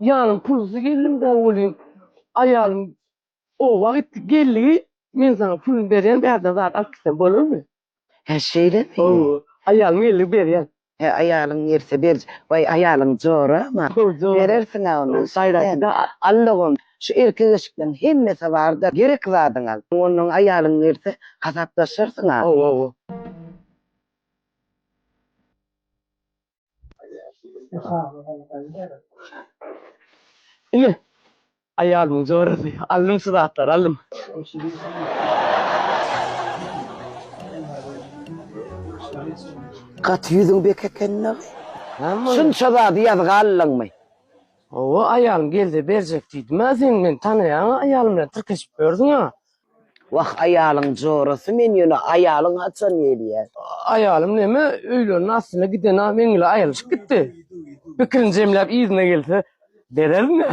Ýanym pulsuz geldim däl welin, aýalym oba gitdi, geldi, Men saňa puluny berýän, bärden zat alyp gitseň bolarmy? Hä, şeýlemi? Hawa, aýalyň geldi, berýän. Hä, aýalyň berse ber. Waý, aýalyň jora-ma. Berersiň-ä ony. Gaýraty-da Allagum, şu erkek-eşikleň hemmesi bar-da, gerek zadyňy al. Onnoň aýalyň gelse, hasaplaşarsyň-a. Hawa, hawa. Ine, aýalymyň jorasy. Aldym şu zatlary, aldym. Gaty ýüzüň bek ekeni-dä. Şunça zady ýazga aldyňmy? Hawa, aýalym gelse berjek diýdim-ä. Sen meni tanaýaň-a, aýalym bilen tirkeşip ýörsüň-ä. Wah aýalyň jorasy men ýöne aýalyň haçan gelýä. Aýalym neme öýlerine aslynda gidena meňle aýrylyşyp gitdi. Pikirini jemläp yzyna gelse berermi.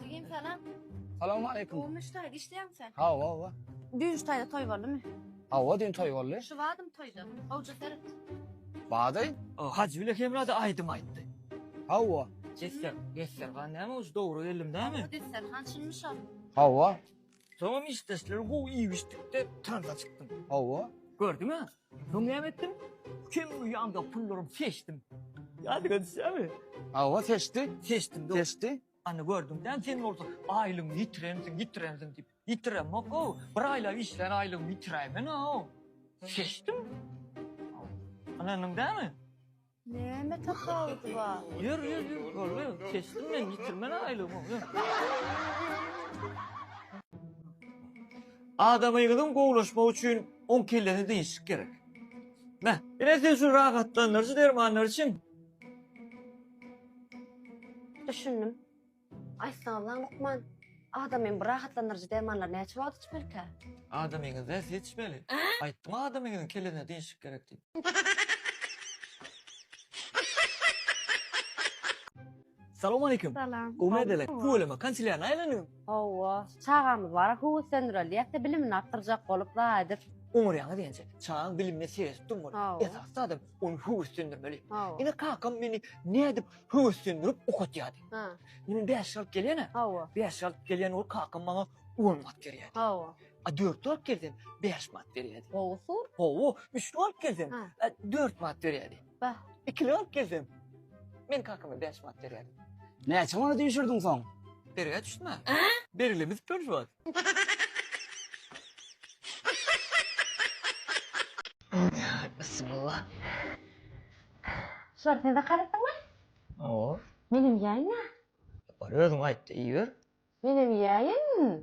Jigim salam. Salam aleýkum. Gowmy ştaý işleýäňmi sen? Hawa hawa. Düýn ştaýda toý boldumy? Hawa düýn toý boldy. Şu badym toýda. Gowja seret. Bady? O Hajy bile hemrada aýdym aýtdy. Hawa. Jester, Jester, gan näme uj dogry geldim dämi? Hawa Jester, han şunmy şol? Hawa. Soňam işdeşleri gowy iýip-içdikde tansa çykdym. Hawa. Gördüň-ä? Soň näme etdim? Kim bu ýandaky pullarymy seçdim. Ýadyňa düşýärmi? Hawa, seçdi. Seçdim, dogry. Seçdi. Ana, gördüň-dä, sen bolsa aýlygyňy ýitirensiň, ýitirensiň diýip. Ýitiremok-ow. Bir aýlap işlän aýlygymy ýitiräýmen-ow. Seçdim. Ynandyň dämi? Näme tapawudy bar? Ýör, ýör, ýör, görme, kesdim men, ýitirmen aýlygymy, ýör. Adamyňyzyň gowulaşmagy üçin oň kellesine dynçlyk gerek. Mä, ine siz şu rahatlandyryjy dermanlar içiň. Düşündim. Aýtsana-la, lukman, adamyň bu rahatlandyryjy dermanlary näçe wagt içmelikä? Adamyňyz näçe içmeli? Aýtdyň adamyňyzyň kellesine dynçlyk gerek diýip. Salowmaleýkim. Salam. Gowy medeleň. Tüweleme, kanselýaryna aýlandyň. Hawa, çagamyz bar-a, höweslendiräýýäs-de, bilimini artdyrjak bolup, la edip. Oňarýaňyz ençe. Çagaň bilimine seredip durmaly. Esasy zadam, ony höweslendirmeli. Ine, kakam meni nädip höweslendirip okatýardy. Ha. Men bäşlik alyp gelýän-ä. Hawa. Bäşlik alyp gelýän bolup kakam maňa on manat berýärdi. Hawa. A dörtli alyp gelsem, bäş manat berýärdi. Gowusy. Gowy. Üçli alyp gelsem, Ha. a, dört manat berýärdi. Bah. Ikili alyp gelsem, men kakama bäş manat berýärdim. Näçe manat üýşürdiň soň? Bergä düşme. Berlemez bir zat. Bismillah. Şular sen zaka aýtdyňmy? Hawa. Menem iýäýin-ä. Ýokary özüň aýt-da iýiber. Menem iýäýin.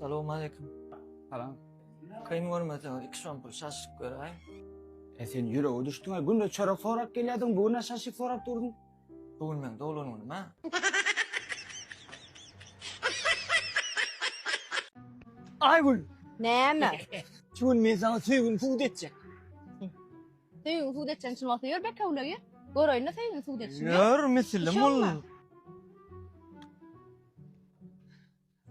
Salowmaleýkim. Salam. Kyn görmeseň iki şom pul şaşyk beräýiň. E sen ýürege düşdüň-ä, günde çörek sorap gelýärdiň, bu gün-ä şaşyk sorap durdyň. Bu gün meň doglan günüm-ä. Aýgül! Näme? Şu gün men saňa söýgimi subut etjek. Söýgiň sud etjegin çyn bolsa ýör bekewligi. Göreýin-le söýgiň sud edişini. Ýör misilim ol.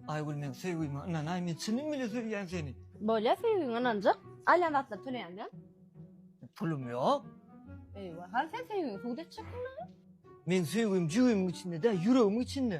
Aýgül men söýgime ynanaý men çynym bile söýýän seni. Bolýa söýgiňe ynanjak. Alýan zatlary töleýän bilen. Pulum ýok. Eýwa hany sen söýgiňi sud etjekdiň maňa. Meň söýgim jübimiň içinde däl ýüregimiň içinde.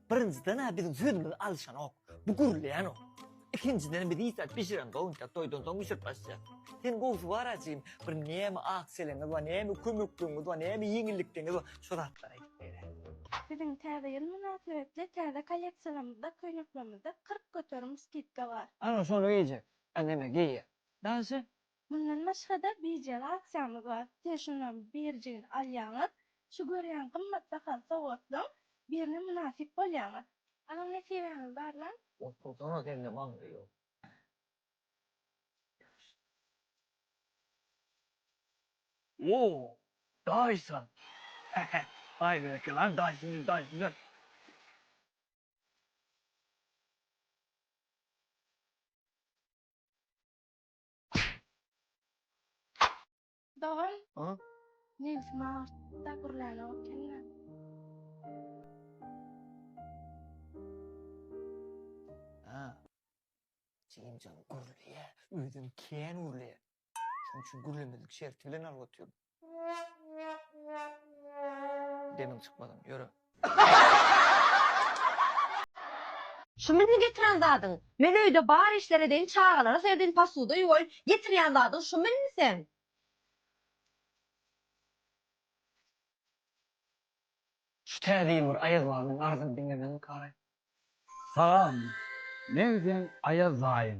Birinjiden-ä biziň sözümizi alyşanok. Bu gürleýänok. Ikinjiden biz iýsek bişirensoň ýa-da toýdan soň bişirip başlaýar. Sen gowusy bar-a jigim, bir näme ak çeleňiz bar, näme kömekligiňiz bar, näme ýeňillikligiňiz bar, şo zatlary aýdyp ber-e. Biziň Täze ýyl mynasybetli täze kolleksiýamyzda, köýneklerimizde kyrk göterim skidka bar. Ana şony geýjek. A neme geýýär. Daşy Mundan başga-da birje aksiýamyz bar. Siz şundan birjigini alýaňyz, şu görýän gymmat bahaly sowgatlaryň birine mynasyp bolýaňyz. Alan nesibäňiz barlaň. Otursaňa sende maňlaý ýok. O, daýza! He-he, baý bereki lan daýzanyň daýzasy. Dogan. A? Nebsim agyrtdy-da gürlänok ekeni. A. Jigimjan gürleýä, özem kän gürleýä. Şonuň üçin gürlemezlik şerti bilen alyp otyryn. Demiň çykmasyn, ýöre. Şumy indi getiren zadyň? Men öýde bar işler edeýin, çagalara seredýin, posuda ýuwaýyn, getirýän zadyň şumy indi seň? Şu täze ýyl bir Aýaz babyň arzyny diňlemezlik araý. Salam, men seň Aýaz daýyň.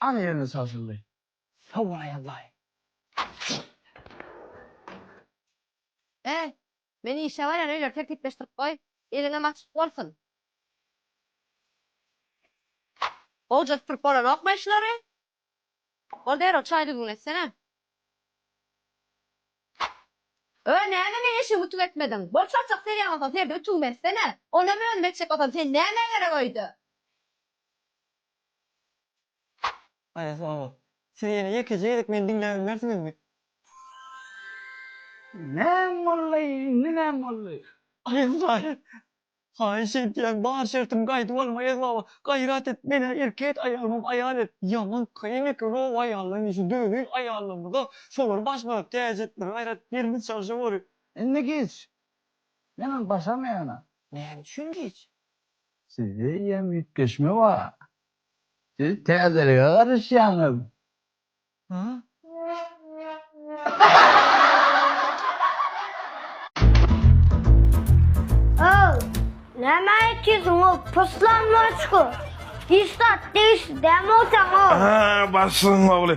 Ana ýerine çalşyldy. Sowulaý Allaýy. Äý, men işe barýan öýleri tertipleşdirip goý, eliňem açyk bolsun. Gowja süpürip bolanokmy şulary? Bor derrew çaý düzgün etsene. Öý, näme meň eşigimi ütük etmediň? Bor çarçak serýän bolsaň serde ütügimi etsene. Onam özüm etjek bolsam sen näme gerek öýde? Siz ýene ýekeje gezek meni diňläp bilmersiňizmi? Näm boldy? Indi näm boldy? Aýaz daýy, haýyş edýän, bar şertimi gaýdyp alma Aýaz baba. Gaýrat et, men-ä erkek et, aýalymam aýal et. Ýaman kyn eken o aýallaryň işi, döwüň aýallarymyz-a, şolary başladyk, täze etmeli gaýrat, birimiz çalşyp oly. Indi giç. Menem başarmaýan-a. Näme üçin giç? Sizde hem üýtgeşme bar. Siz täzelige garaşýaňyz. Ow, näme aýtýarsyň ow, puslan moçko? Hiç zat degişli däl mogsan ow. Aa, başlygyň ogly.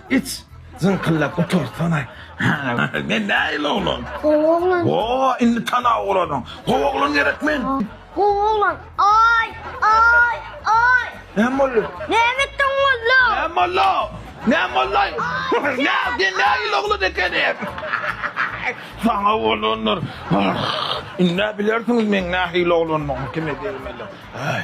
Iç, zyňkyllap otursana. Men nähili oglan? Gowy oglan. Ho, indi tanap olarsyň. Gowy oglan gerek men. Gowy oglan. Aý, aý, aý! Näme boldy? Näme etdiň molla? Näme molla? Näme mollaý? Näme, sen nähili oglan ekeniň? Saňa bolandyr. Indi-ä bilersiňiz meň nähili oglandygymy, kime degmeli. Aý!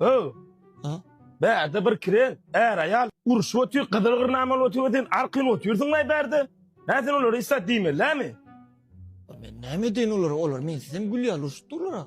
Öw. Ha? Bärde bir kiren, är aýal urşup otyr, gyzyl gyrnama bolup otyr, sen arkyn otyrsyn gaý bärde. Hä sen olary isat diýmeli, nämi? Ol Men näme edeýin olara? Olar men sizem gülýär, urşup durlar.